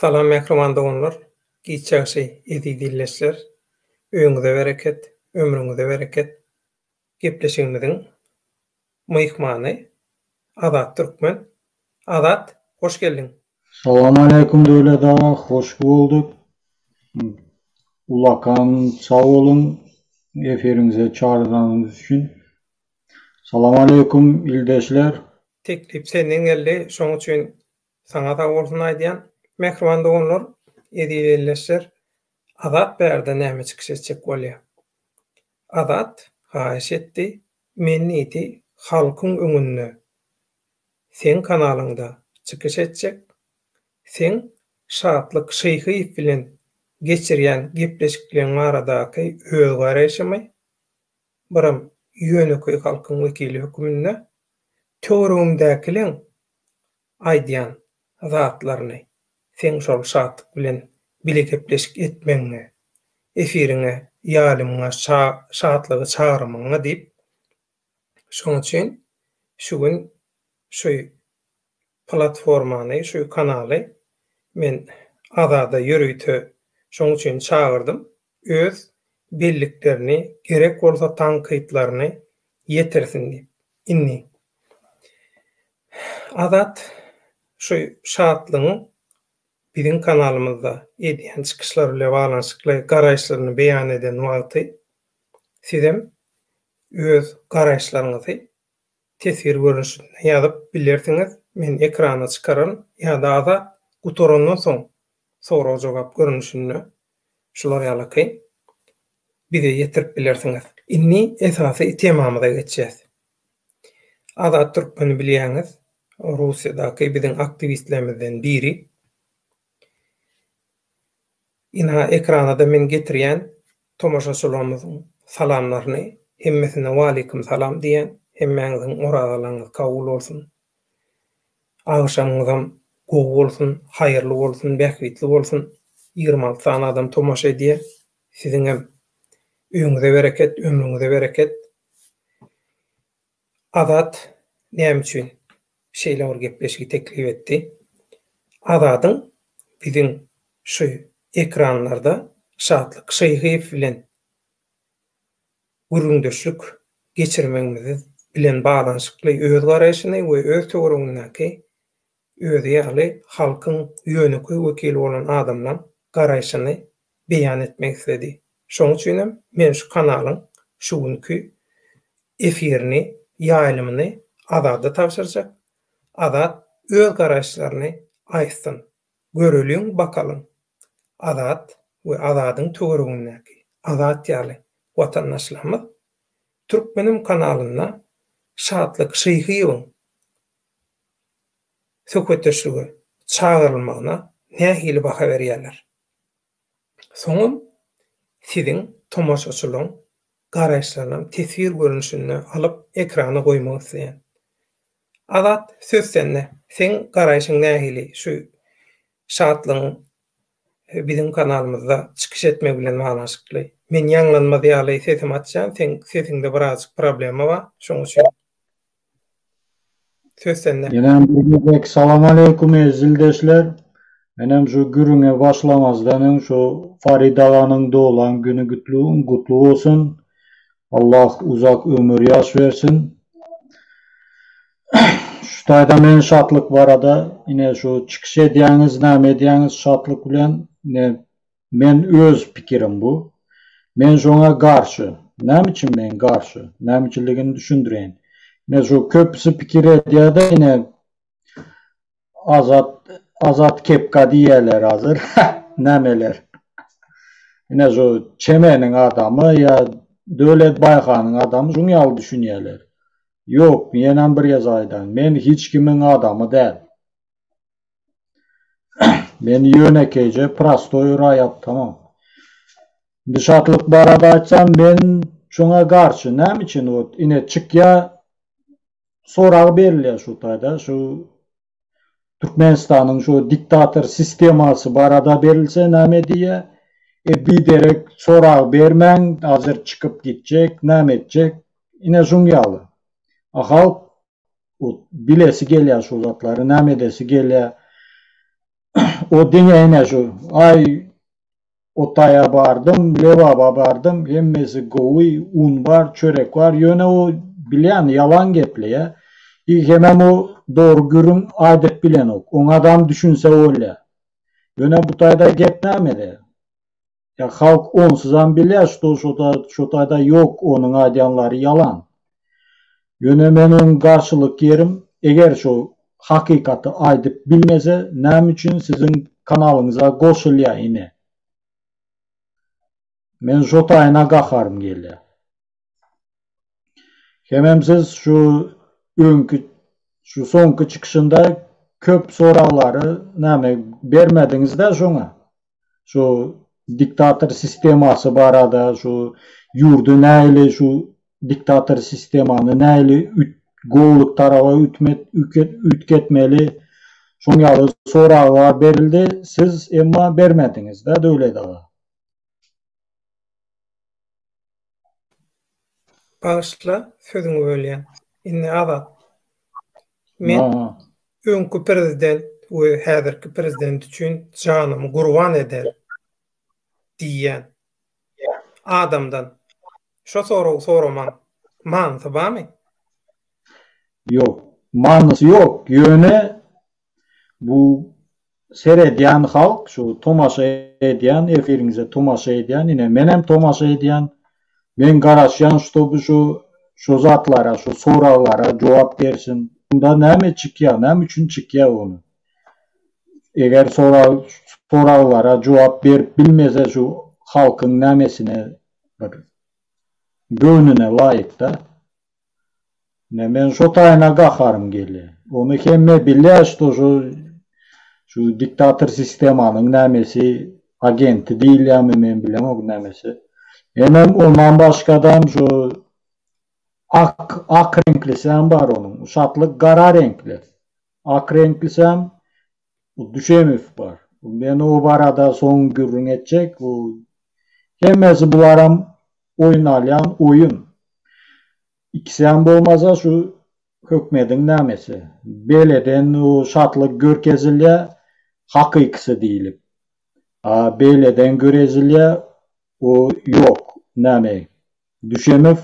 Salam mähriban doganlar, giç ýagşy eziz illeçler, öýüňize bereket, ömrüňize bereket. Gepleşigimiziň myhmany Azat Türkmen. Azat, hoş geldiň! Salamaleýkum Döwlet aga, hoş bolduk. Ulakan sag boluň efiriňize çagyranyňyz üçin. Salamaleýkum ildeşler. Teklip senden geldi, şoň üçin Saňa sag bolsun aýdýan. Mähriban doganlar, eziz ildeşler, Azat bärde näme çykyş etjek bolýa? Azat haýyş etdi, men diýdi halkyň öňünde seň kanalyňda çykyş etjek, seň Şatlyk Şyhyýew bilen geçirýän gepleşikleň baradaky öz garaýşymy, biram ýönekeý halkyň wekili höküminde töweregimdäkileň aýdýan zatlaryny seň şol Şatyk bilen bile gepleşik etmegiňe, efiriňe ýalymyňa Şatlygy çagyrmagyňa diýip, şoň üçin şu gün şu platformany, şu kanaly men Azada ýörite şoň üçin çagyrdym. öz belliklerini, gerek bolsa tankytlaryny ýetirsin diýip. Indi Azat şu Şatlygyň biziň kanalymyzda edýän çykyşlary bilen baglanyşykly garaýyşlaryny beýan eden wagty sizem öz garaýyşlaryňyzy Teswir görnüşinde ýazyp bilersiňiz, men ekrana çykararyn ýa-da azat gutarandan soň sorag-jogap görnüşinde şular ýalaky bize ýetirip bilersiňiz. Indi esasy temamyza geçýäs. Azat Türkmeni bilýäňiz, Russiýadaky biziň aktiwistlerimizden biri. Ina, ekranada men getirýän Tomaşaçylarymyzyň salamlaryny hemmesine waleýkim salam diýýän, hemmäňiziň orazalaryňyz kabul bolsun. Agşamyňyzam gowy bolsun, haýyrly bolsun, bähbitli bolsun. Ýigrimi alty sany adam tomaşa edýär. Siziňem öýüňize bereket, ömrüňize bereket. Azat näme üçin şeýle bir gepleşigi teklip etdi? Azadyň biziň şu ekranlarda Şatlyk Şyhyýew bilen gürrüňdeşlik geçirmegimiz bilen baglanyşykly öz garaýşyny we öz töweregindäki özi ýaly halkyň ýönekeý wekili bolan adamlaň garaýşyny beýan etmek isledi. Şoň üçinem men şu kanalyň şu günki efirini, ýaýlymyny Azada tabşyrjak. Azat öz garaýyşlaryny aýtsyn. Göreliň bakalyň Azat we Azadyň töweregindäki Azat ýaly watandaşlarymyz Türkmenim kanalynda Şatlyk Şyhyýewiň söhbetdeşlige çagyrylmagyna nähili baha berýärler? Soňam siziň tomaşaçylaryň garaýyşlaryny teswir görnüşinde alyp ekrana goýmak isleýän. Azat söz sende. Seň garaýşyň nähili şu Şatlygyň biziň kanalymyzda çykyş etmegi bilen baglanyşykly? Men ýaňlanmaz ýaly sesimi açýan, seň sesiňde birazjyk problema bar, şoň üçin. Söz sende. Ýenem bir gezek salam aleýkum eziz ildeşler. Menem şu gürrüňe başlamazdan öň şu Farid aganyň doglan güni gutly bolsun. Allah uzak ömür ýaş bersin. Şu taýdan men şatlyk barada ine şu çykyş edýäňiz näme edýäňiz şatlyk bilen ine Men öz pikirim bu. Men şoňa garşy. Näme üçin men garşy? Näme üçinligini düşündireýin. Ine şu köpüsi pikir edýärde ine Azat Azat kepka diýýärler hazir. Nämeler. Ine şu Çemeniň adamy ýa Döwlet Baýhanyň adamy şuň ýaly düşünýärler. Ýok, ýenem bir gezek aýdaýyn. Men hiç kimiň adamy däl. Men ýönekeýje prostoý raýat tamam. Indi şatlyk barada aýtsam men şoňa garşy näme üçin ot ine çykýa sorag berilýä şu taýda şu Türkmenistanyň şu diktator sistemasy barada berilse näme diýýä e biderek sorag bermäň hazir çykyp gitjek näme etjek ine şuň ýaly a halk O bilesi gelýär şu zatlary, näme edesi gelýär. O diňe ene şu, aý, o taýa bardym, lebaba bardym, hemmesi gowy, un bar, çörek bar, ýöne o bilýän, ýalan gepleýär. I hemem o dogry gürrüň aýdyp bilenok. Oňa adam düşünse bolýar. Ýöne bu taýda gep nämede? Ya halk onsuzam bilýär şto şo taýda ýok onuň aýdýanlary ýalan. Ýöne meniň garşylyk ýerim eger şo hakykaty aýdyp bilmese näme üçin siziň kanalyňyza goşulýa ine. Men şo taýyna gaharym gelýä. Hemem siz şu öňki şu soňky çykyşynda köp soraglary näme bermediňiz-de şoňa. Şu diktator sistemasy barada, şu ýurdy nähili şu diktator sistemany nähili gowulyk taraba ütmet üýtgetmeli şoň ýaly soraglar berildi, siz emma bermediňiz-de Döwlet aga. Bagyşla sözüňi bölýän. Indi Azat. Men öňki prezident we häzirki prezident üçin janymy gurban eder diýýän adamdan şo soragy soramaň manysy barmy? Ýok. Manysy ýok. Ýöne Bu seredýän halk, şu tomaşa edýän, efiriňize tomaşa edýän, ine menem tomaşa edýän, men garaşýan ştoby şu şu zatlara, şu soraglara jogap bersin. Unda näme çykýar, näme üçin çykýar ony? Eger sorag soraglara jogap berip bilmese şu halkyň nämesine bir göwnüne laýykda. Ine men şo taýyna gaharym gelýär. Ony hemme bilýär şto şu şu diktator sistemanyň nämesi agenti diýilýärmi men bilemok nämesi. Enem ondan başgadam şu ak ak reňklisem bar onuň. Şatlyk gara reňkli. Ak reňklisem bu Düşemow bar. Men o barada soň gürrüň etjek. Bu hemmesi bularam oýun alýan oýun. Ikisem bolmasa şu hökmediň nämesi. Beýleden o şatlyk görkezilýär, hakykysy diýlip. A beýleden görezilýär, o ýok. Näme? Düşemow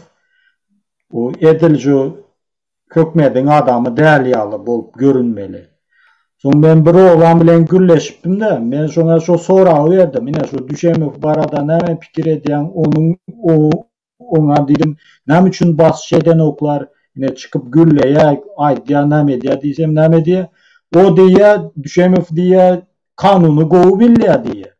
o edil şu Hökmediň adamy däl ýaly bolup görünmeli. Soň men bir oglan bilen gürleşipdim-de, men şoňa şo soragy berdim, Ine, şo Düşemow barada näme pikir edýäň, onuň, oňa diýdim, näme üçin basyş edenoklar, ine, çykyp gürleýär, aýdýar, näme edýär diýsem, näme diýýär, O diýýär, Düşemow diýýär, kanuny gowy bilýär diýýär.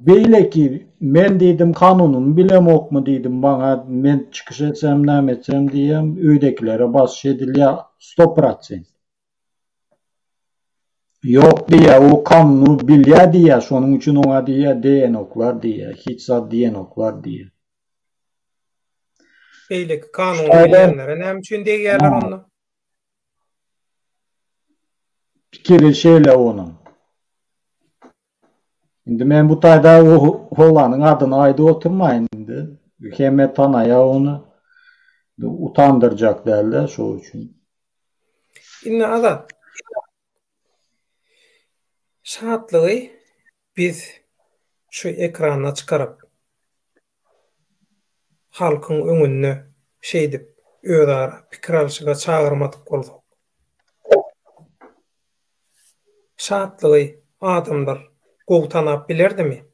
Beýleki men diýdim kanunymy bilemokmy diýdim maňa men çykyş etsem näme etsem diýýän öýdekilere basyş edilýär sto prosent. Ýok diýýär o kanuny bilýär diýýär şonuň üçin oňa diýýär diýenoklar diýýär hiç zat diýenoklar diýýär. Beýleki kanuny bilýänlere näme üçin degýärler onda? Pikiri şeýle onuň. Indi men bu taýda o oglanyň adyny aýdyp oturmaýyn indi. Hemme tanaýar ony. Utandyrjak däl-de şo üçin. Indi Azat. Şatlygy. Biz şu ekrana çykaryp, halkyň öňünde şeýdip özara pikir alşyga çagyrmadyk bolsak, şatlygy adamlar gowy tanap bilerdimi?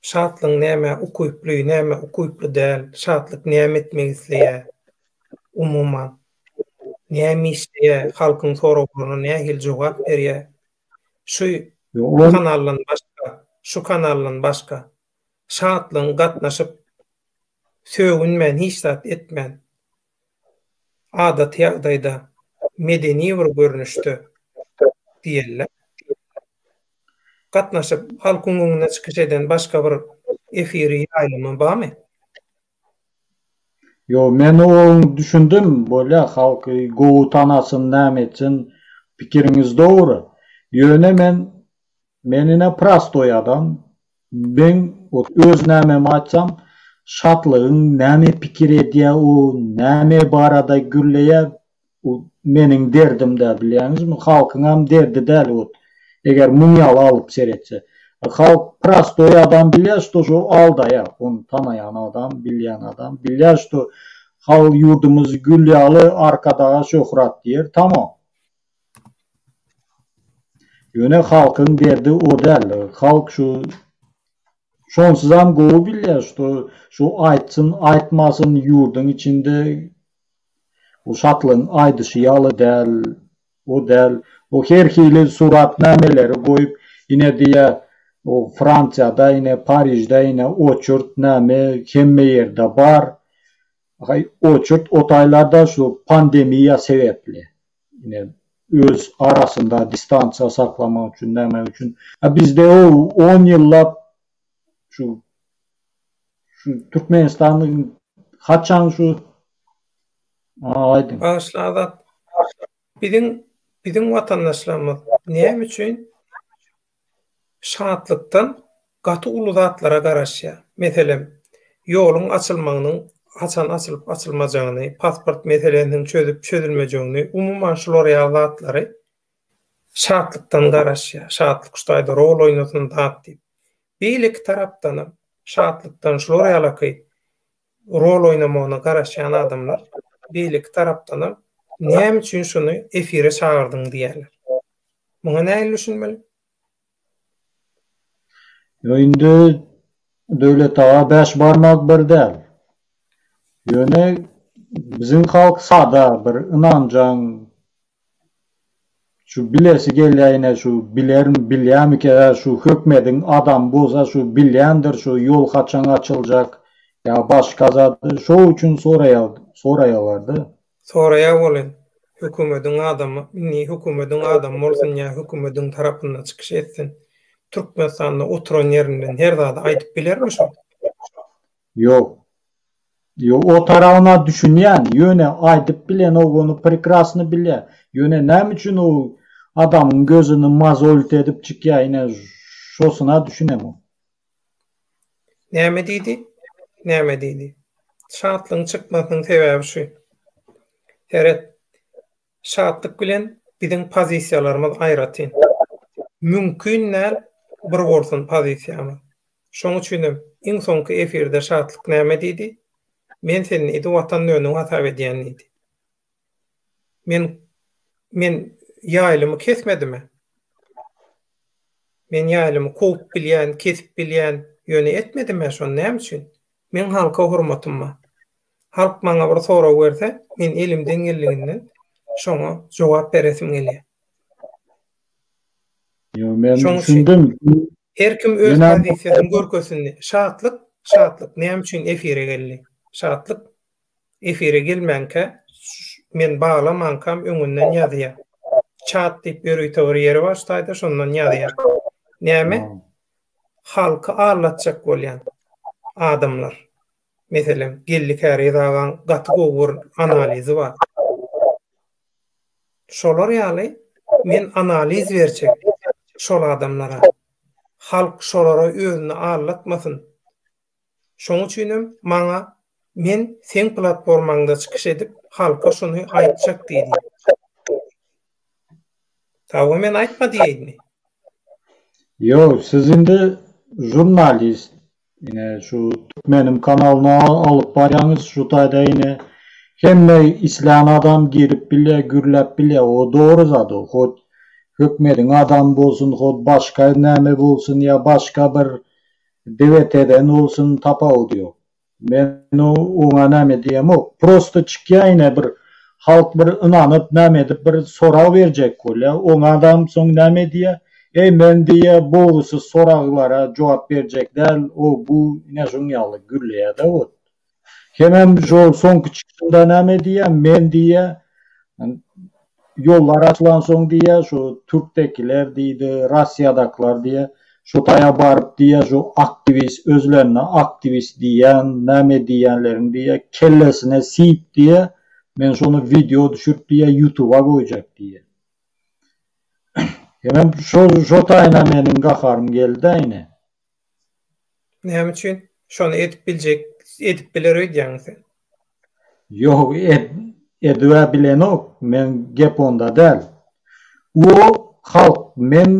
Şatlygyň nämä ukyply, nämä ukyply däl, şatlyk näme etmek isleýär, umuman, näme işleýär, halkyň soraglaryna nähili jogap berýär, Şu kanaldan başga, şu kanaldan başga şatlygyň gatnaşyp sögünmän hiç zat etmän adaty ýagdaýda medeni bir görnüşde diýeliler. Gatnaşyp halkyň öňünde çykyş eden başga bir efiri ýaýlymy bamy? Ýo men oň düşündim bolýa halk gowy tanasyn näme etsin pikiriňiz dogry ýöne men men ine prastoý adam meň ot öz nämemi aýtsam şatlygyň näme pikir edýä o näme barada gürleýä Bu meniň derdim däl bilýäňizmi, halkyňam derdi däl hut, eger muň ýaly alyp seretse. Halk prostoý adam bilýär şto şo aldaýa, ony tanaýan adam, bilýän adam bilýär şto hal ýurdumyz gül ýaly arkadaga şöhrat diýer tamam. Ýöne halkyň derdi o däl, halk şu şonsuzam gowy bilýär şto şo aýtsyn aýtmasyn ýurduň içinde Bu Şatlygyň aýdyşy ýaly däl, o däl. O her hili suratnameleri goýup, ine diýýär, o Fransiýada, ine Parižde, ine oçurt näme hemme ýerde bar. Haý, oçurt o taýlarda şu pandemiýa sebäpli. Ine, öz arasynda distansiýa saklamak üçin, näme üçin. A bizde o on ýyllap şu Şu Türkmenistanyň haçan şu aýdyň. Bagyşla Azat. Biziň biziň watandaşlarymyz näme üçin şatlykdan gaty uly zatlara garaşýar? Meselem, ýoluň açylmagynyň haçan açylyp açylmajagyny, pasport meselesiniň çözüp çözülmejegini, umuman şular ýaly zatlary Şatlykdan garaşýar. Şatlyk şu taýda rol oýnasyn dat diýip. Beýleki tarapdanam şatlykdan şular ýalaky rol oýnamagyna garaşýan adamlar beýleki tarapdanam näme üçin şuny efire çagyrdyň diýýärler. Muňa nähili düşünmeli? Ýo indi Döwlet aga bäş barmak bir däl. Ýöne biziň halk sada bir ynanjaň şu bilesi gelýäýine şu biler bilýämike şu hökmediň adamy bolsa şu bilýändir şu ýol haçan açyljak ýa başga zat şo üçin soraýa soraýalarda. Soraýar bolen, hökümediň adamy, indi hökümediň adamy bolsun ýa hökümediň tarapyndan çykyş etsin, Türkmenistanda oturan ýerinden her zady aýdyp bilermi şol? Ýok. Ýok, o tarabyna düşünýän, ýöne aýdyp bilenok, ony prekrasny bilýän. Ýöne näme üçin o adamyň gözüni mozolit edip çykýar, ine, şosyna düşünemok. Näme diýdi? Näme diýdi? Şatlygyň çykmasynyň sebäbi şu. Seret. Şatlyk bilen biziň pozisiýalarymyz aýratyn. Mümkin däl bir bolsun pozisiýamyz. Şoň üçin hem iň soňky efirde Şatlyk näme diýdi? Men seni idi Watan döwüniň hasap edýän diýdi. Men men ýaýlymy kesmedimi? Men ýaýlymy kowup bilýän, kesip bilýän, ýöne etmedim-ä şony näme üçin? Meň halka hormatym bar. Halk maňa bir sorag berse, men elimden geldiginden şoňa jogap beresim gelýär. Ýa men düşündim. Her kim öz pozisiýasyny görkezsin. Şatlyk, Şatlyk näme üçin efire geldi? Şatlyk efire gelmänkä men baglamankam öňünden ýazýar. Çat diýip ýörite bir ýeri bar staýda şondan ýazýar. Näme? Halky aldatjak bolýan adamlar. Meselem, Geldi Käriz agaň gaty gowy bir analizi bar. Şolar ýaly men analiz berjek şol adamlara. Halk şolara özüni aldatmasyn. Şoň üçinem maňa Men seň platformaňda çykyş edip, halka şuny aýtjak diýdi. Tawa men aýtma diýeýinmi? Ýok, siz indi žurnalist. Ine şu Türkmenim kanalyny alyp barýaňyz, şu taýda ine hemme islän adam girip bilýär, gürläp bilýär. O dogry zat o. Hut hökmediň adamy bolsun, hut başga näme bolsun ýa başga bir Diňe tezen bolsun tapawudy ýok. Men oňa näme diýemok. Prosta çykýaýne bir halk bir ynanyp näme edip bir sorag berjek bolýa. Oňa adam soň näme diýýä. Eý men diýýä bogusuz soraglara jogap berjek däl o bu ine şuň ýaly gürleýädä ot. Hemem şol soňky çykyşynda näme diýýä, men diýýä, ýollar açylansoň diýýä, şu türkdekiler diýdi, Russiýadakylar diýýä, şo taýa baryp diýýä, şu aktiwist, özlerine aktiwist diýýän, näme diýýänleriň diýýä, kellesine siýip diýýä, men şony wideo düşürip diýýä, ýutuba goýjak diýýä. Hemem şo taýyna meniň gaharym geldi-ä ine. Näme üçin? Şony edip biljek, edip biler öýdýäňmi sen? Ýok, ed, edibä bilenok, men gep onda däl. O, halk, men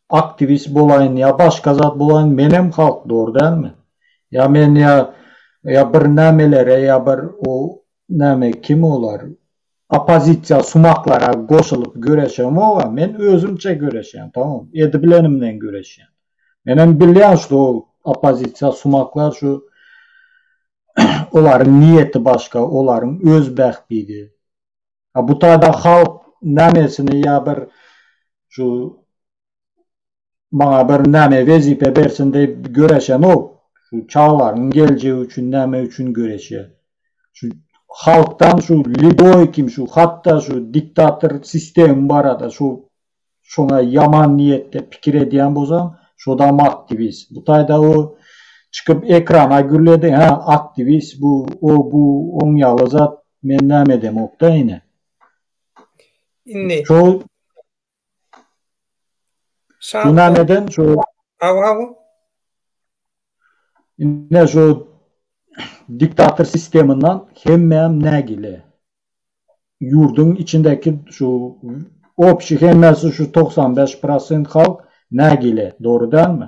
aktiwist bolaýyn ýa başga zat bolaýyn, menem halk, dogry dälmi? Ýa men ýa, ýa birnämelere ýa bir o Näme kim olar? Oppozisiýa sumaklara goşulyp göreşemog-a men özümçe göreşýän tamam edibilenimden göreşýän. Menem bilýän şu oppozisiýa sumaklar şu olaryň niýeti başga olaryň öz bähbidi. A bu taýda halk nämesini ýa bir şu maňa bir näme wezipe bersin diýip göreşemok. Şu çagalaryň geljegi üçin näme üçin göreşýär? Şu halkdan şu liboý kim şu hatda şu diktator sistemi barada şu şoňa ýaman niýetde pikir edýän bolsaň, şodam aktiwist. Bu taýda o çykyp ekrana gürledi, hä, aktiwist bu, o bu, oň ýaly zat, men näme edemok-da ine. Indi. Şo Şahnameden şu Hawa hawa. Ine şu diktator sistemyndan hemmäm nägile. Ýurduň içindäki şu opşi hemmesi şu togsan bäş prosent halk nägile, dogry dälmi?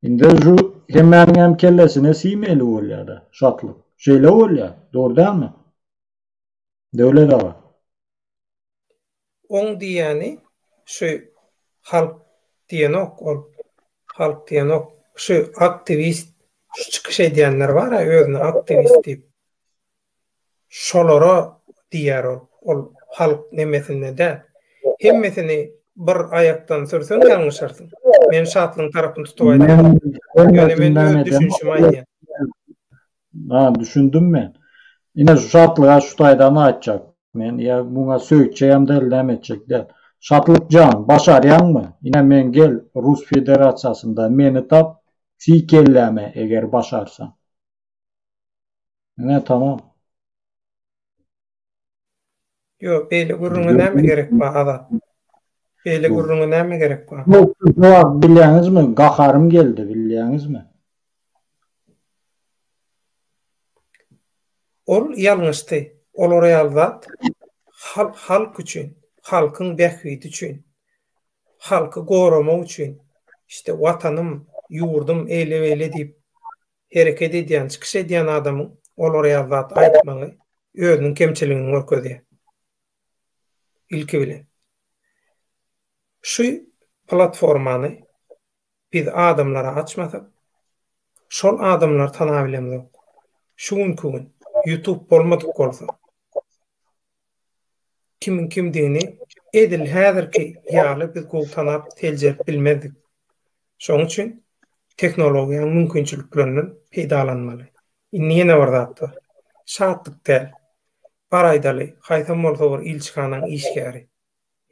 Indi şu hemmäniňem kellesine siýmeli bolýa-da şatlyk. Şeýle bolýa, dogry dälmi? Döwlet aga. Oň diýýäni şu halk diýenok ol halk diýenok şu aktiwist şu çykyş edýänler bara özüne aktiwist diýip şolara diýýär ol ol halk nemesinde däl hemmesini bir aýakdan sürseň ýalňyşarsyň men şatlygyň tarapyny tutup aýdýan ýöne men öz düşünişimi aýdýan. Ha, düşündim men. Ine şu şatlyga şu taýdan aýtjak men, ýa muňa söýtjeýem däl, näme etjek däl. Şatlyk jan, başarýaňmy? Ine men gel Rus Federasiýasynda meni tap, siý kelläme eger başarsaň. Ine tamam. Ýok, beýle gürrüňe näme gerek bar, Azat? Beýle gürrüňe näme gerek bar? Ýok, bilýäňizmi, gaharym geldi, bilýäňizmi? Ol ýalňyşdy. Olar ýaly zat halk üçin, halkyň bähbidi üçin, halky goramak üçin, işte, Watanym, ýurdum, eýle-beýle diýip, Hereket edýän, çykyş edýän adamyň olara ýaly zat aýtmagy özüniň kemçiligini görkezýär. Ilki bilen, şu platformany biz adamlara açmasak, şol adamlary tanap bilemzok. Şu günki gün Youtube bolmadyk bolsa, Kimiň kimdigini edil häzirki ýaly biz gowy tanap, seljerip bilmezdik. Şonuň üçin tehnologiýanyň mümkinçiliklerinden peýdalanmaly. Indi ýene bir zat bar. Şatlyk däl. Bar aýdaly, haýsam bolsa bir ilçihanaň işgäri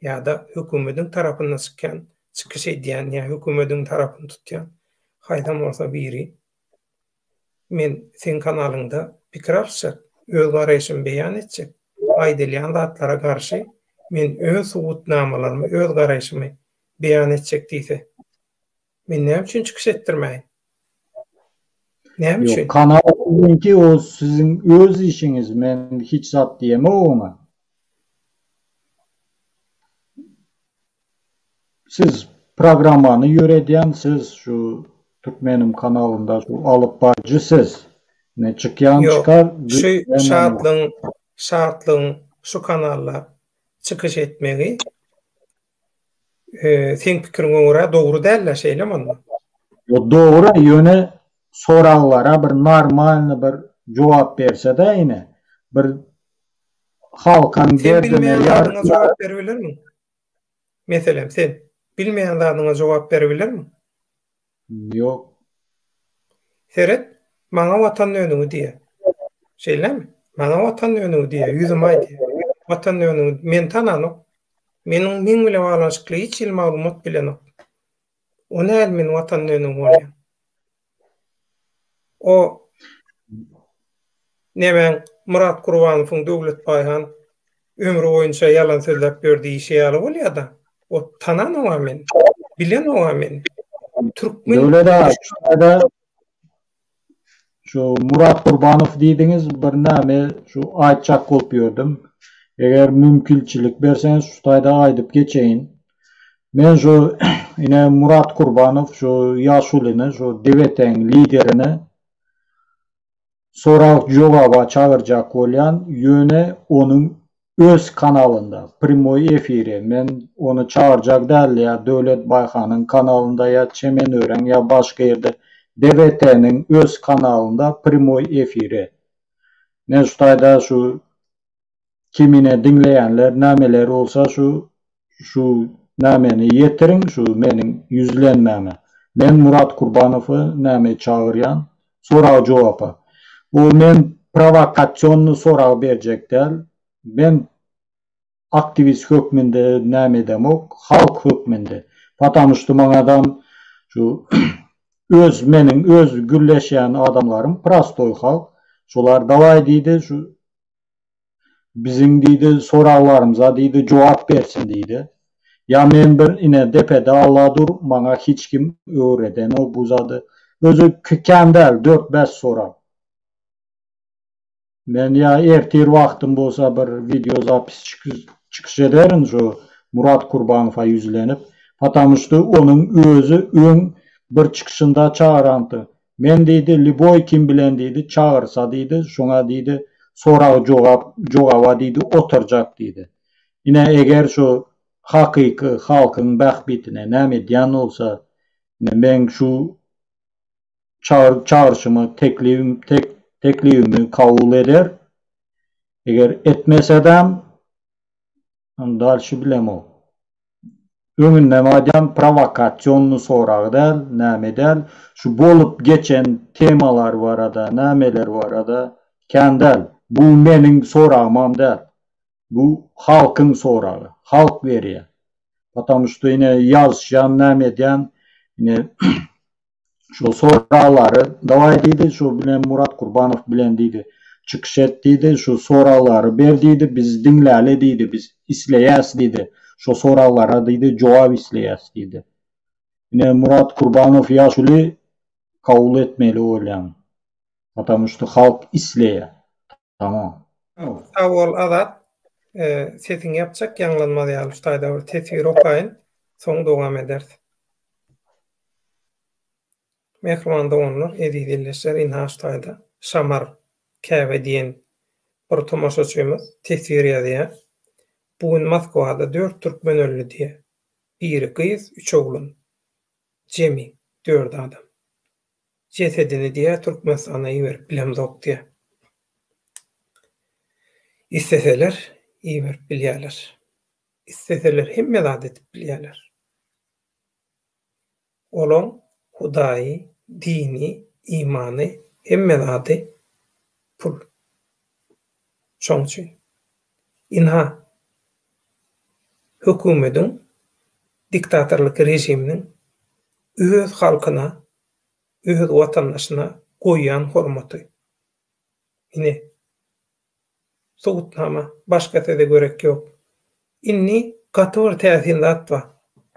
ýa-da hökümediň tarapynda çykýan, çykyş edýän ýa hökümediň tarapyny tutýan haýsam bolsa biri Men seň kanalyňda pikir alyşjak, öz garaýşymy beýan etjek. Aýdylýan zatlara garşy men öz subutnamalarymy, öz garaýşymy beýan etjek diýse. Men näme üçin çykyş etdirmäýin? Näme üçin? Ýok, kanal siziňki, ol siziň öz işiňiz, men hiç zat diýemok oňa. Siz programmany ýöredýän siz şu türkmenim kanalynda şu alyp barjy siz ne çykýan çykar şu şatlyň şatlyň şu kanalda çykyş etmegi seň pikiriňe görä dogry dälde şeýlemi onda ýok dogry ýöne soraglara bir normalny bir jogap bersede ine bir halkan derdine ýar jogap berip bilermiň Meselem, sen bilmeýän zadyňa jogap beribilermiň? Ýok. Seret, maňa Watan dönügi diýýä. Şeýlemi? Maňa Watan dönügi diýýä, ýüzüme aýdýa. Watan dönügi, meni tananok. Meniň meň bilen baglanyşykly hiç hili maglumat bilenok. O nädip meni Watan dönügi bolýa? O nemäň Myrat Gurbanowyň Döwlet Baýhan ömri boýunça ýalan sözläp ýör diýişi ýaly bolýada. O tananogam men. Bilenogam men. Türkmen Döwlet aga şu Myrat Gurbanow diýdiňiz bir näme şu aýtjak bolup ýördüm. Eger mümkilçilik berseňiz şu taýda aýdyp geçeýin. Men şu ine Murat Kurbanow şu ýaşulyny şu DBT-iň liderini sorag jogaba çagyrjak bolýan ýöne onuň öz kanalynda primoý efiri men ony çagyrjak däldi ýa Döwlet Baýhanyň kanalynda ýa Çemen ören ýa başga ýerde DBT-niň öz kanalynda primoý efiri men şu taýda şu Kimine diňleýänler nameleri bolsa şu şu nameni ýetiriň şu meniň ýüzlenmäme. Men Murat Kurbanowy name çagyrýan sorag jogapa. Bu men prowokasionny sorag berjek däl. Men aktiwist hökmünde name edemok halk hökmünde. Patamu ştu maňa adam şu öz meniň öz gürleşýän adamlarym prostoý halk. Şolar dawaý diýdi şu Biziň diýdi soraglarymyza diýdi jogap bersin diýdi. Ýa men bir ine depe dagla dur maňa hiç kim öwredenok bu zady. Özi kän däl dört bäş sorag. Men ýa ertir wagtym bolsa bir wideo zapis çykyş ederin şu Murat Kurbanowa ýüzlenip. Patamuşty onuň özi öň bir çykyşynda çagyranypdy. Men diýdi, lýuboý kim bilen diýdi, çagyrsa diýdi, şoňa diýdi, sorag-jogap, jogaba diýdi, oturjak diýdi. Ine, eger şu hakyky halkyň bähbitine näme edýän bolsa, ine, meň şu çagyr çagyryşymy, teklibim tek teklibimi kabul eder. Eger etmesedem, Ony dalşy bilemok. Öňündem aýdýan prowokasionny sorag däl, näme däl. Şu bolup geçen temalar barada, nämeler barada kän däl. Bu meniň soragymam däl. Bu halkyň soragy. Halk berýär. Potamuşda ine ýazyşýan näme edýän ine şol soraglary dawaý diýdi, şu bilen Murat Gurbanow bilen diýdi, çykyş et diýdi, şu soraglary ber diýdi, biz diňläli diýdi, biz isleýäs diýdi, şo soraglara diýdi jogap isleýäs diýdi. Ine Murat Gurbanow ýaşuly kabul etmeli bolýan. Potamuşda halk isleýär. Tamam. Sag bol Azat. Sesiňi ýapjak ýaňlanmaz ýaly şu taýda bir teswir okaýyn. Soň dowam ederis. Mähriban doganlar, eziz ildeşler ynha şu taýda Şamar Käbe diýen bir tomaşaçymyz teswir ýazýar. Bu gün Moskwada dört türkmen öldi diýýär. Biri gyz, üç oglan. Jemi dört adam. Jesedini diýä Türkmenistana iberip bilemzok diýä. Isleseler iberip bilýäler. Isleseler hemme zat edip bilýäler. Olaň hudaýy, dini, imany hemme zady pul. Şoň üçin. Ynha, hökümediň, diktatorlyk režiminiň öz halkyna, öz watandaşyna goýýan hormaty. Ine, subutnama, başga söze gerek ýok. Indi gaty bir täsin zat bar,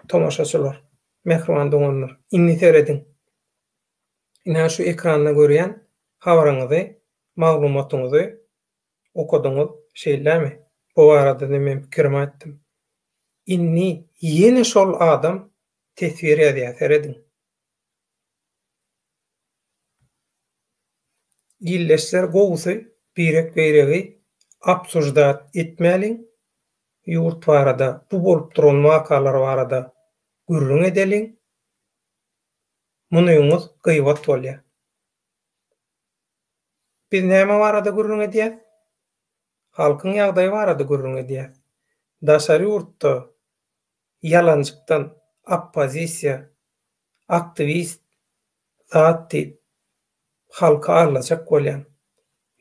tomaşaçylar, mähriban doganlar, indi serediň. Ine, şu ekranda görýän habaryňyzy, maglumatyňyzy okadyňyz, şeýlemi? Bu barada-da men pikirimi aýtdym. Indi ýene şol adam teswir ýazýar, serediň. Ildeşler gowusy birek-biregi obsuždat etmäliň, ýurt barada, bu bolup duran wakalar barada gürrüň edeliň. Munyňyz gyýbat bolýar. Biz näme barada gürrüň edýäs? Halkyň ýagdaýy barada gürrüň edýäs. Daşary ýurtda ýalanjykdan oppozisiýa, aktiwist zat diýip, halky aldajak bolýaň.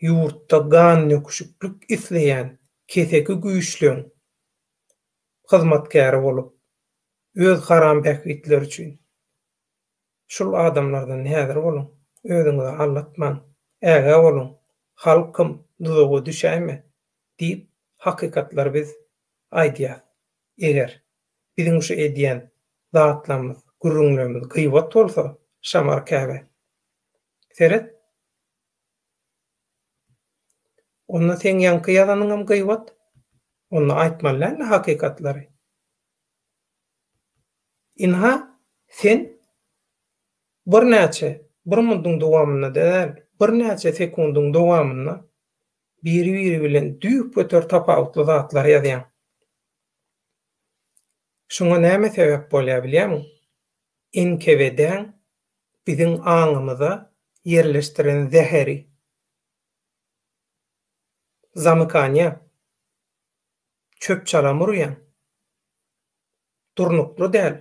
Ýurtda gannöküşiklik isleýän keseki güýçleň hyzmatkäri bolup, öz haram bähbitleri üçin. Şul adamlardan häzir boluň, özüňizi aldatmaň, ägä boluň, halkym, duzaga düşäýme, diýip, hakykatlary biz aýdýas. Eger, biziň şu edýän zatlarymyz, gürrüňlerimiz gyýbat bolsa, şamar käbä. Seret! Onda seň ýaňky ýazanyňam gyýbat. Onda aýtmaly dälmi hakykatlary? Ynha, sen birnäçe, bir munduň dowamynda däl, birnäçe sekundyň dowamynda biri-biri bilen düýpgöter tapawutly zatlary ýazýaň. Şuňa näme sebäp bolýar bilýärmiň? NKWD-niň biziň aňymyza ýerleşdiren zäheri. Zamykaniýa. Çöp-çalam urýaň. Durnukly däl.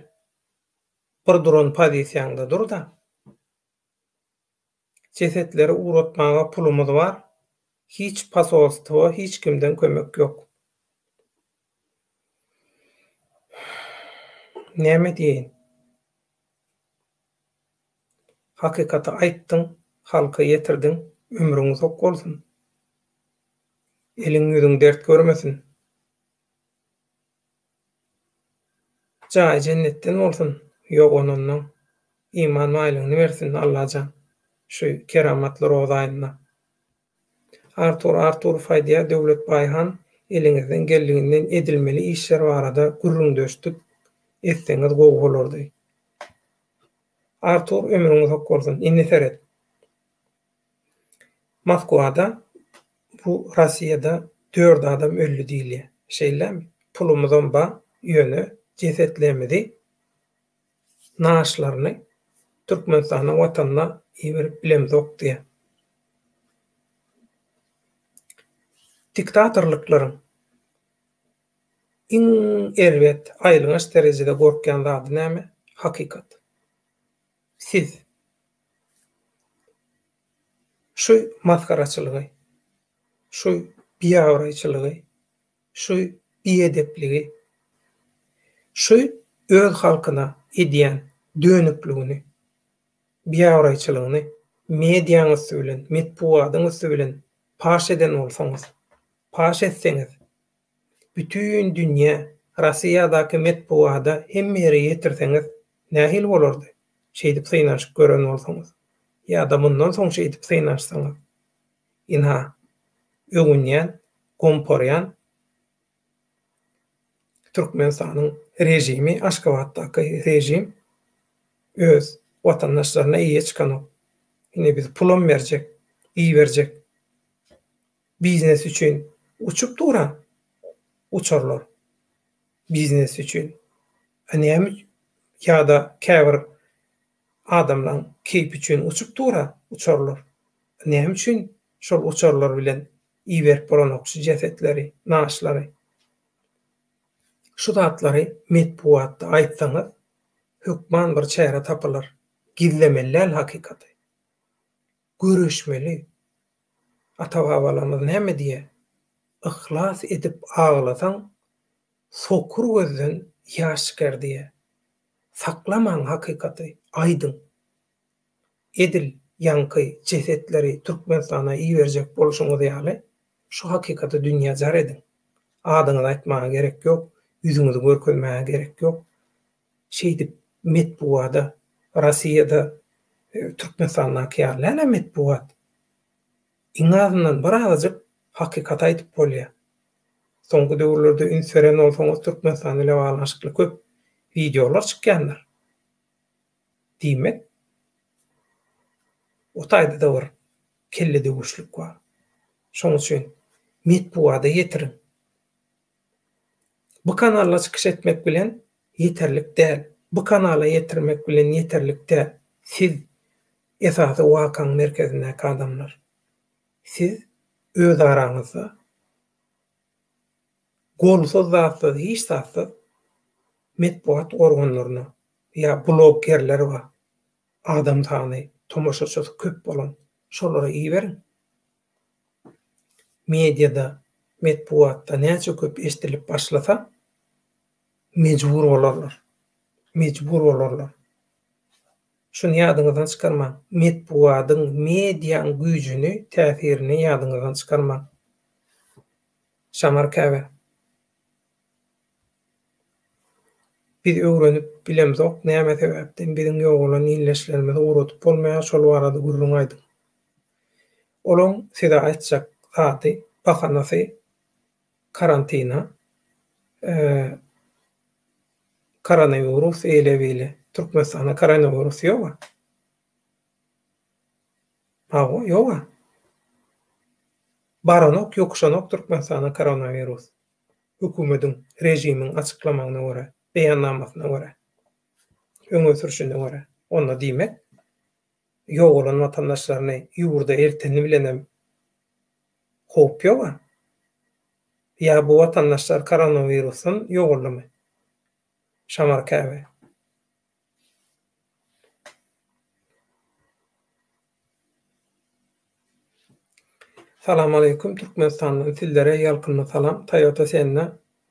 Bir duran pozisiýaňda dur-da. Jesetleri ugratmaga pulumyz bar. Hiç posolstwo, hiç kimden kömek ýok. Näme diýeýin? Hakykaty aýtdyň halka ýetirdiň ömrüň uzak bolsun eliň ýüzüň dert görmesin jaýy jennetden bolsun ýoganandan iman baýlygyny bersin Allajan şu keramatly roza aýynda. Artur Arturow aýdýar, Döwletbaý han, eliňizden geldiginden edilmeli işler barada gürrüňdeşdik etseňiz gowy bolardy. Artur ömrüň uzak bolsun. Indi seret. Moskwada bu Rossiýada dört adam öldi diýilýär. Şeýlemi? Pulumyzam bar, ýöne jesetlerimizi naaşlaryny Türkmenistanyň watanyna iberip bilemzok diýýär. Diktatorlyklaryň iň erbet, aýylganç derejede gorkýan zady näme? Hakykat. Siz şu masgaraçylygy, şu biabraýçylygy Şu biedepligini, şu öz halkyna edýän dönükligini, biabraýçylygyny mediaň üsti bilen, metbugadyň üsti bilen paş eden bolsaňyz, paş etseňiz, bütin dünýä, Rossiýadaky metbugada hemme ýere ýetirseňiz nähili bolardy? Şeýdip synanyşyp gören bolsaňyz, ýa-da mundan soň şeýdip synanyşsaňyz? Ynha, öwünýän, gomparýan Türkmenistanyň režimi, Aşgabatdaky režim öz watandaşlaryna eýe çykanok. Indi biz pulam berjek, iberjek biznes üçin uçup duran uçarlar, biznes üçin. A näme ýa-da käbir Adamlaň keýpi üçin uçup dur-a uçarlar. Näme üçin şol uçarlar bilen iberip bolanok şu jesetleri, naşlary? Şu zatlary metbugatda aýtsaňyz, hökman bir çäre tapylar. Gizlemeli däl hakykaty. Göreşmeli. Ata-babalarymyz näme diýýär? Yhlas edip aglasaň, Sokur gözden ýaş gerdiýe. Saklamaň hakykaty, aýdyň. Edil ýaňky jesetleri Türkmenistana iberjek bolşuňyz ýaly, şu hakykaty dünýä jar ediň. Adyňyzy aýtmaga gerek ýok, ýüzüňizi görkezmäge gerek ýok. Şeýdip metbugada, Rossiýada Türkmenistandaky ýaly däl-ä metbugat. Iň azyndan bir azajyk hakykaty aýdyp bolýa. Soňky döwürlerde üns beren bolsaňyz Türkmenistan ile baglanyşykly köp wideolar çykýandyr. Diýmek o taýdada bir kelle döwüşlik bar. Şoň üçin metbugada ýetiriň. Bu kanalda çykyş etmek bilen ýeterlik däl. Bu kanala ýetirmek bilen ýeterlik däl. Siz, esasy wakaň merkezindäki adamlar. Siz özaraňyzda golsuz zatsyz hiç zatsyz metbugat organlaryna ýa bloggerler bar, adam sany, tomaşaçysy köp bolan, şolara iberiň. Mediada, metbugatda näçe köp eşdilip başlasa, mejbur bolarlar. Mejbur bolarlar. Şuny ýadyňyzdan çykarmaň. Metbugadyň, mediaň güýjüni, täsirini ýadyňyzdan çykarmaň. Şamar käbä. Biz öwrenip bilemzok näme sebäpden biziň ýogalan illeşlerimizi ugradyp bolmaýar şol barada gürrüň aýdyň. Olaň size aýtjak zady bahanasy karantina koronawirus eýle beýle türkmenistanda koronawirus ýoga hawa ýoga baranok ýokuşanok türkmenistanda koronawirus. hökümediň, režimiň açyklamagyna görä, beýannamasyna görä, öňe sürşüne görä, onda diýmek, ýogalan watandaşlaryny ýurda elteni bilenem howp ýog-a. Ýa bu watandaşlar koronawirusdan ýogaldymy? Şamar käbe. Salam aleýkum Türkmenistandan sizlere ýalkymly salam Toyota Senna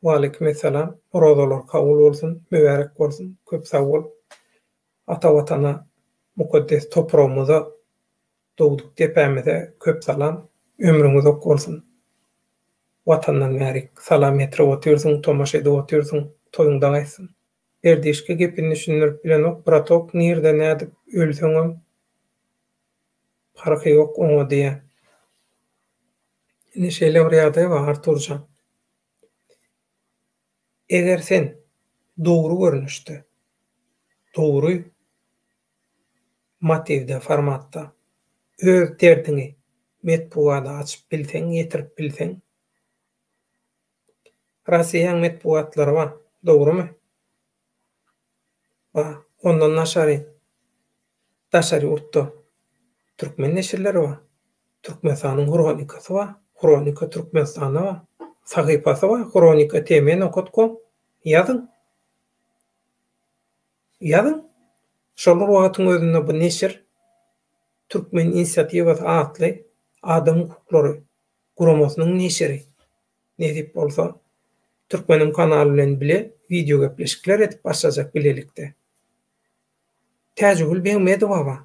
Waleýkim essalam Orazalar kabul bolsun Mübärek bolsun köp sag bol Ata Watana mukaddes topragymyza dogduk depämize köp salam ömrüň uzak bolsun Watandan bärik salam ýetirip otyrsyň tomaşa edip otyrsyň toýuň daň etsin. Berdişka gepini düşündirip bilenok bratok nirde nädip ölseňem parhy ýok oňa diýä. Indi şeýle bir ýagdaý bar Arturjan. Eger sen dogry görnüşde, dogry motiwde, formatda öz derdiňi metbugada açyp bilseň, ýetirip bilseň, Rasiýaň metbugatlary bar, dogrumy? Bar. Ondan daşary, daşary ýurtda türkmen neşirleri bar. Türkmenistanyň hronikasy bar, Hronika Türkmenistana bar. Sahypasy bar, Hronika TM nokat kom. Ýazyň. Ýazyň. Şol bir wagtyň özünde bu neşir Türkmen inisiatiwasy atly adam hukuklary guramasynyň neşiri, nesip bolsa, Türkmenim kanaly bilen bile wideogepleşikler edip başlajak bilelikde. Täjigül Begmedowaga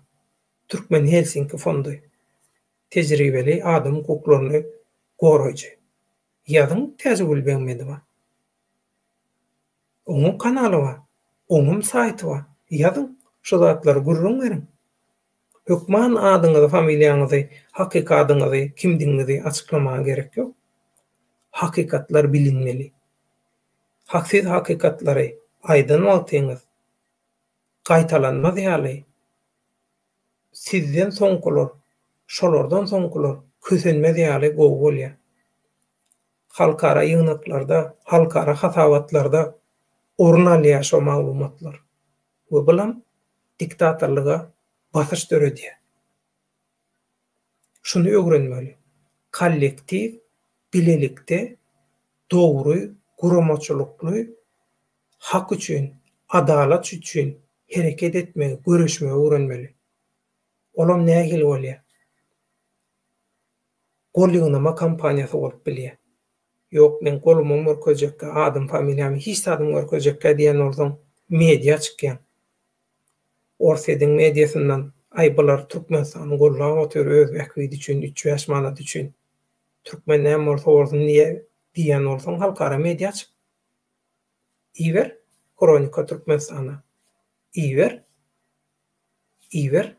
Türkmen Helsinki fondy, tejribeli adam hukuklaryny goraýjy. Ýazyň Täjigül Begmedowa. Oňum kanaly bar, oňum saýty bar, ýazyň, şu zatlary gürrüň beriň. Hökman adyňyzy, familiýaňyzy, hakyky adyňyzy, kimdigiňizi açyklamaga gerek ýok. Hakykatlar bilinmeli. Hak siz hakykatlary aýdan wagtyňyz gaýtalanmaz ýaly sizden soňkular, şolardan soňkular kösenmez ýaly gowy bolýar. Halkara ýygnaklarda, halkara hasabatlarda orun alýar şo maglumatlar we bulam diktatorlyga basyş döredýär. Şuny ögrenmeli, kollektiw bilelikde dogry, guramaçylykly, hak üçin, adalat üçin hereket etmegi, göreşmegi öwrenmeli. Olam nähili bolýar? gol ýygnama kampaniýasy bolup bilýär. Ýok, men golumam görkezjekkä, adym-familiýamy, hiç zadymy görkezjekkä diýen bolsaň, mediýa çykýaň. Orsýetiň mediýasyndan, Aý, bular Türkmenistany gollap otyr öz bähbidi üçin, üç-bäş manady üçin. Türkmen näme bolsa bolsun diýen bolsaň, halkara mediýa çyk. Iber, Hronika Türkmenistana. Iber. iber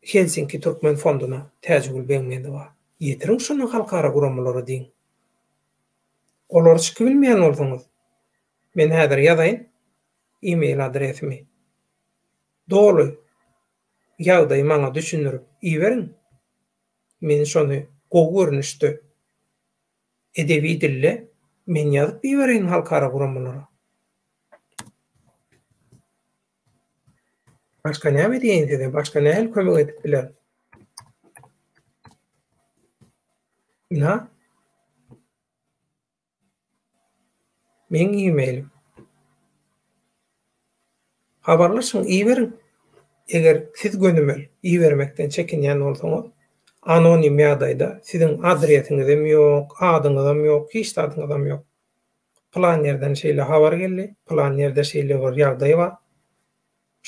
Helsinki Türkmen Fonduna Täjigül Begmedowa ýetiriň şuny halkara guramalara diýiň Olar çyky bilmeýän bolsaňyz men häzir ýazaýyn email adresimi doly ýagdaýy maňa düşündirip iberiň men şony gowy görnüşde Edebi dilde men ýazyp ibereýin halkara guramalara. Başga näme diýeýin size, başga nähili kömek edip bilerin? Ina. Meň e-mailim. Habarlaşyň iberiň. Eger siz gönümel ibermekden çekinýän bolsaňyz, anonim ýagdaýda siziň adresiňizem ýok, adyňyzam ýok, hiç zadyňyzam ýok. Pylan ýerden şeýle habar geldi, pylan ýerde şeýle bir ýagdaý bar.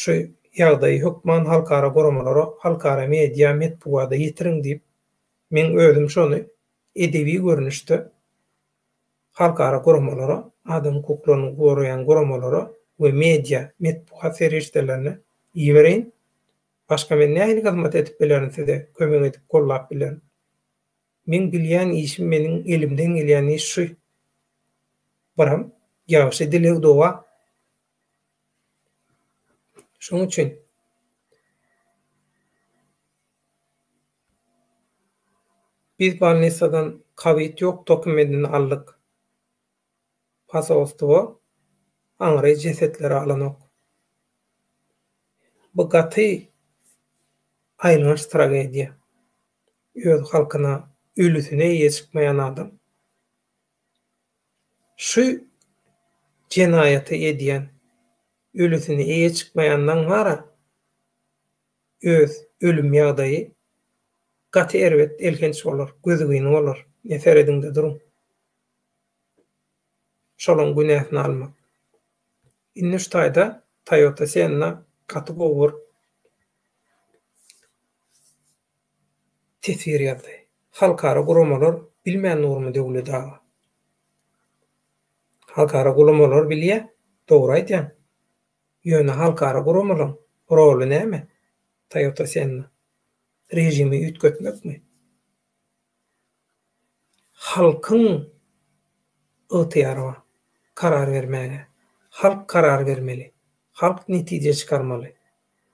Şu ýagdaýy hökman halkara guramalara, halkara media, metbugada ýetiriň diýip, men özüm şony edebi görnüşde halkara guramalara, adam hukuklaryny goraýan guramalara we media, metbugat serişdelerine, ibereýin. Başga men nähili hyzmat edip bilerin size, kömek edip, gollap bilerin? Meň bilýän işim, meniň elimden gelýän iş şu. Biram, ýagşy dileg-doga. Şoň üçin. Biz bolnisadan kowid ýok dokumentini aldyk. Posolstwo aňry jesetleri alanok. Bu gaty aýylganç tragediýa. Öz halkyna ölüsine eýe çykmaýan adam. Şu jenaýaty edýän ölüsine eýe çykmaýandan wara öz ölüm ýagdaýy gaty erbet elhenç bolar gözügyny bolar ne serediňde duruň şolaň günäsini almak indi şu taýda Toyota Senna gaty gowy bir teswir ýazdy halkara guramalar bilmän durmy Döwlet aga halkara gulamalar bilýä dogry aýdýaň Ýöne halkara guramalaryň roly näme? Toyota Senna režimi üýtgetmekmi? Halkyň ygtyýary bar karar bermäge. Halk karar bermeli. Halk netije çykarmaly.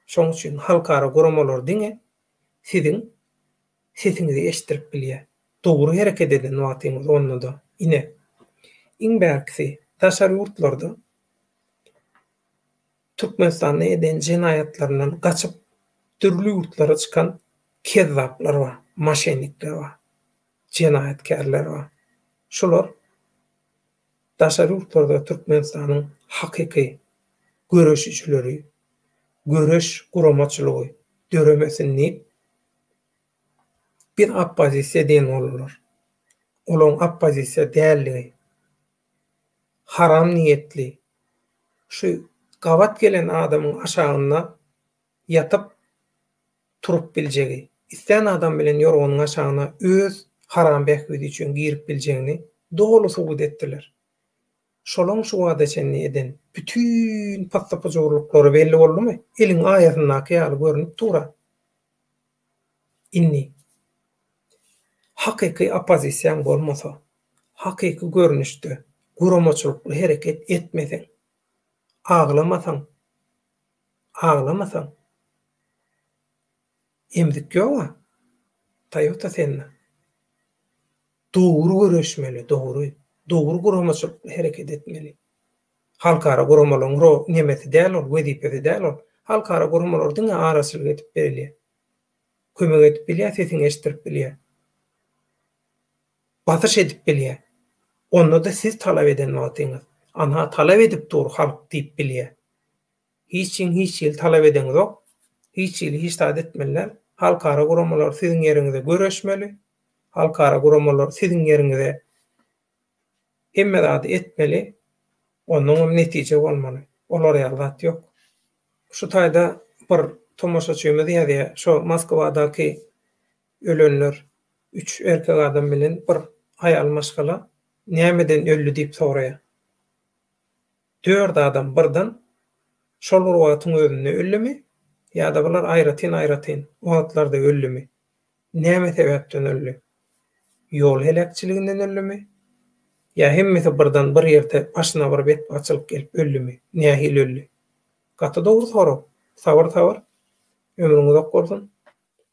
Şoň üçin halkara guramalar diňe siziň sesiňizi eşitdirip bilýär. Dogry hereket eden wagtyňyz onda-da ine. Iň bärkisi daşary ýurtlarda Türkmenistanda eden jenaýatlaryndan gaçyp dürli ýurtlara çykan kezzaplar bar, maşennikler bar, jenaýatkärler bar. Şular daşary ýurtlarda Türkmenistanyň hakyky göreşijileri, göreş guramaçylygy döremesin diýip biz oppozisiýa diýen bolurlar. Olaň oppozisiýa däldigi haram niýetli şu gabat gelen adamyň aşagynda ýatyp turup biljegi, islän adam bilen ýorganyň aşagyna öz haram bähbidi üçin girip biljegini doly subut etdiler. Şolaň şu bada çenli eden bütin pyssy-pyjurlyklary belli boldumy? Eliň aýasyndaky ýaly görnüp dur-a. Indi hakyky oppozisiýaň bolmasa, Hakyky görnüşde guramaçylykly hereket etmeseň, aglamasaň, aglamasaň, emzik ýog-a, Toyota sende. Dogry göreşmeli, dogry, dogry guramaçylykly hereket etmeli. Halkara guramalaryň ro nemesi däl ol, wezipesi däl ol. Halkara guramalar diňe araçylyk edip bilýär. Kömek edip bilýär, sesiňi eşitdirip bilýär. basyş edip bilýär. Onda-da siz talap eden wagtyňyz. Ana, talap edip dur halk diýip bilýär. Hiç kim hiç hili talap edeňizok, hiç hili hiç zat etmeliler. Halkara guramalar siziň ýeriňize göreşmeli, halkara guramalar siziň ýeriňize hemme zady etmeli, onnoň hem netije bolmaly. Olar ýaly zat ýok. Şu taýda bir tomaşaçymyz ýazýar, şo Moskwadaky Ölenler, üç erkek adam bilen bir aýal maşgala nämeden öldi diýip soraýar. Dört adam birden şol bir wagtyň özünde öldümi ýa-da bular aýratyn-aýratyn wagtlarda öldümi? Näme sebäpden öldi? Ýol heläkçiliginden öldümi? Ýa hemmesi birden bir ýerde başyna bir betbagtçylyk gelip öldümi? Nähili öldi? Gaty dogry sorag. Sabyr-sabyr. Ömrüň uzak bolsun.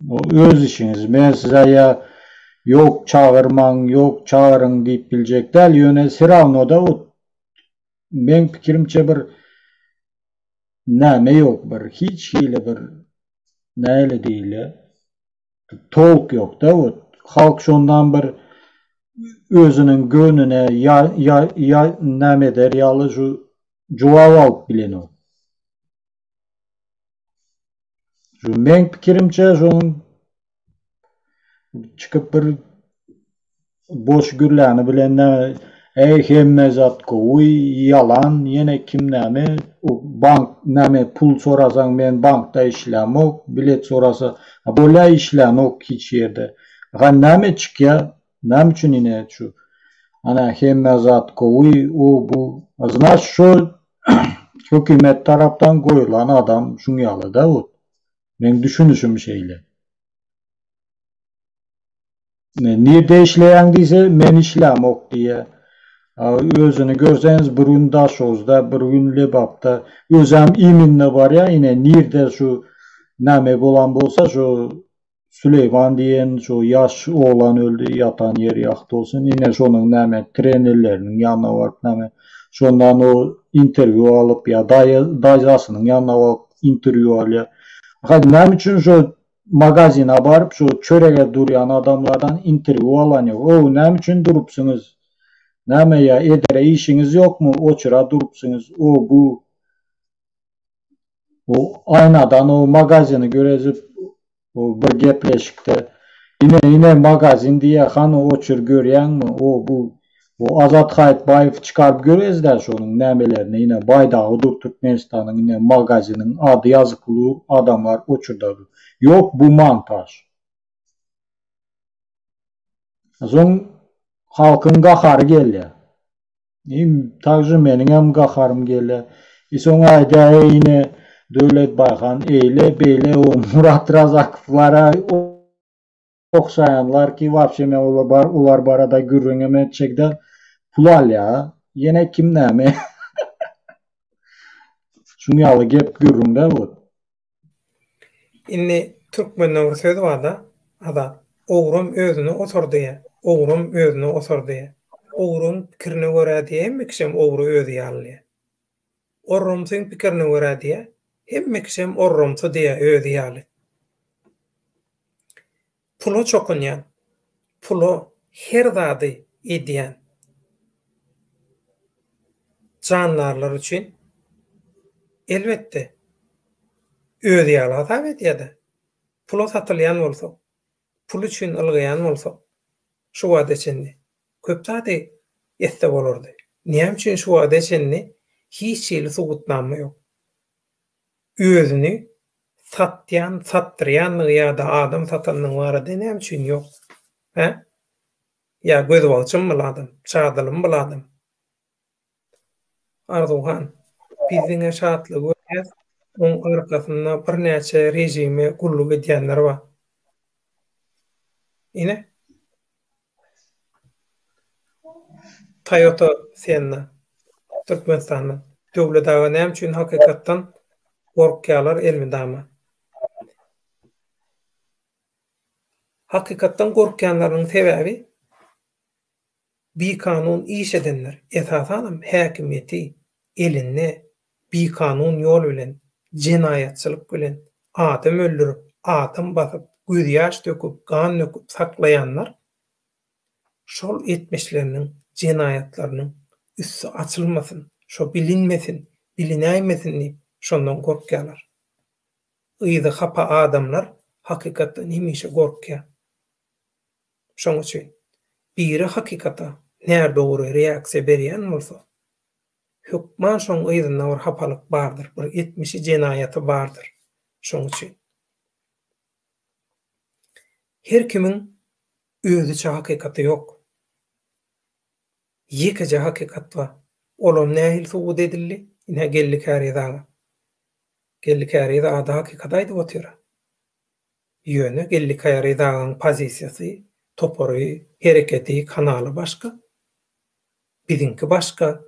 Bu öz işiňiz. Men size ýa Ýok çagyrmaň, ýok çagyryň diýip biljek däl. Ýöne serawnoda ot meň pikirimçe bir näme ýok bir hiç hili bir näle diýle tolk ýokda ot. Halk şondan bir özüniň göwnüne ýa ýa ýa näme eder ýaly şu jogap alyp bilenok. Şu men pikirimçe şoň çykyp bir boş gürläni bilen eý hemme zat gowy ýalan ýene kim näme bank näme pul sorasaň men bankda işlämok bilet sorasa bolýa işlänok hiç ýerde ha näme çykýa Näme üçin ine şu ana hemme zat gowy u bu znaç şol hökimet tarapdan goýulan adam şuň ýaly da ot meň düşünişim şeýle. Nirde işleýäň diýse men işlämok diýýä a özüni görseňiz bir gün daşoguzda bir gün lebapda özäm iminne barýa ine nirde şu name bolan bolsa şu Süleýman diýen şu ýaş oglan öldi, ýatan ýeri ýagty bolsun. Ine şonuň näme trenerleriniň ýanyna baryp näme şondan o interwýu alyp ýa daýy daýzasynyň ýanyna baryp interwýu alýar. Ahaýyp näme üçin şu magazina baryp şu çörege durýan adamlardan interwýu alan ýok. Ow näme üçin durupsyňyz? Näme ýa edere işiňiz ýokmy oçura durupsyňyz o bu. O aýnadan o magazini görezip o bir gepleşikde ine ine magazin diýýär hany oçur görýäňmi o bu o Azat Haýytbaýewi çykaryp görezda şonuň nämelerini ine baýdagy dur Türkmenistanyň ine magaziniň ady ýazyk ulu adamlar oçurda ýok bu montaž. Soň halkyň gahary gelýär. Im takže meniňem gaharym gele. I soň aýdaýa ine Döwlet Baýhan eýle beýle o Murat Razakowlara okşaýanlar ki wapşe men olar barada gürrüňem etjek däl pul alýa ýene kim näme şuň ýaly gep gürrüň däl bu. Indi türkmende bir söz barda Azat, Ogrum özüne otar diýýä, ogrum özüne otar diýýä. Ogruň pikirine görä diýýä hemme kişem ogry özi ýaly diýýä. Orrumsyň pikirine görä diýýä hemme kişem orrumsy diýýä özi ýaly. Pula çokunýan, pula her zady edýän jandarlar üçin, elbetde, özi ýaly hasap edýär-de. Pula satylýan bolsak, pul üçin ylgaýan bolsak, şu wagta çenli köp zady etse bolardy. Näme üçin şu wagta çenli hiç hili subutnama ýok? Özüni satýan, satdyrýandygy ýa-da adam satandygy barada näme üçin ýok? Hä? Ýa gözbagçymy bul adam? Çadylymy bul adam? Arzuw han, biz diňe Şatlygy görýäs, oň arkasynda birnäçe režime gulluk edýänler bar. Ine, Toyota Senna Türkmenistanda Döwlet aga näme üçin hakykatdan gorkýalar elmydama. Hakykatdan gorkýanlarynyň sebäbi bikanun iş edenler esasanam häkimiýeti elinde bikanun ýol bilen, jenaýatçylyk bilen adam öldürip, adam basyp, gözýaş döküp, gan döküp saklaýanlar şol etmişleriniň, jenaýatlarynyň üsti açylmasyn, şo bilinmesin, bilinäýmesin diýip, şondan gorkýarlar. Yzy hapa adamlar hakykatdan hemişe gorkýar. Şoň üçin, biri hakykata närdogry reaksiýa berýän bolsa, Hökman şoň yzynda bir hapalyk bardyr, bir etmişi jenaýaty bardyr. Şoň üçin. Her kimiň özüçe hakykaty ýok. Ýekeje hakykat bar. Olam nähili subut edildi? Ine Geldi Käriz aga. Geldi Käriz ada hakykaty aýdyp otyr. Ýöne Gellikaya Ryzagyň pozisiýasy, topary, hereketi, kanaly başga. Biziňki başga,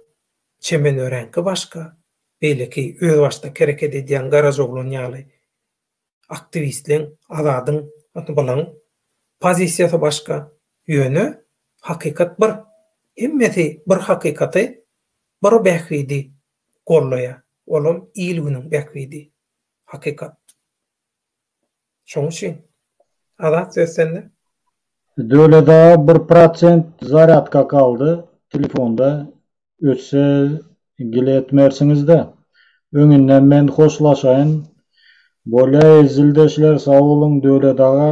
çemen öreňki başga. Beýleki özbaşdak hereket edýän Garajoglan ýaly aktiwistleň, Azadyň, ýa-da bulaň pozisiýasy başga. Ýöne hakykat bir. Hemmesi bir hakykaty, bir Bähbidi gollaýar. Olam il-günüň bähbidi. Hakykat. Şoň üçin Azat söz sende. Döwlet aga bir prosent zarýadka galdy telefonda ötse gile etmersiňizde öňinden men hoşlaşaýyn bolýaý zildeşler sag boluň Döwlet aga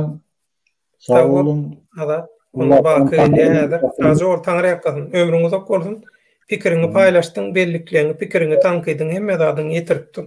sag boluň Azat onda baky gelýär häzir sag bol taňyr ýalkasyn ömrüň uzak bolsun pikiriňi paýlaşdyň bellikleň pikiriňi tankydyň hemme zadyňy ýetiripdiň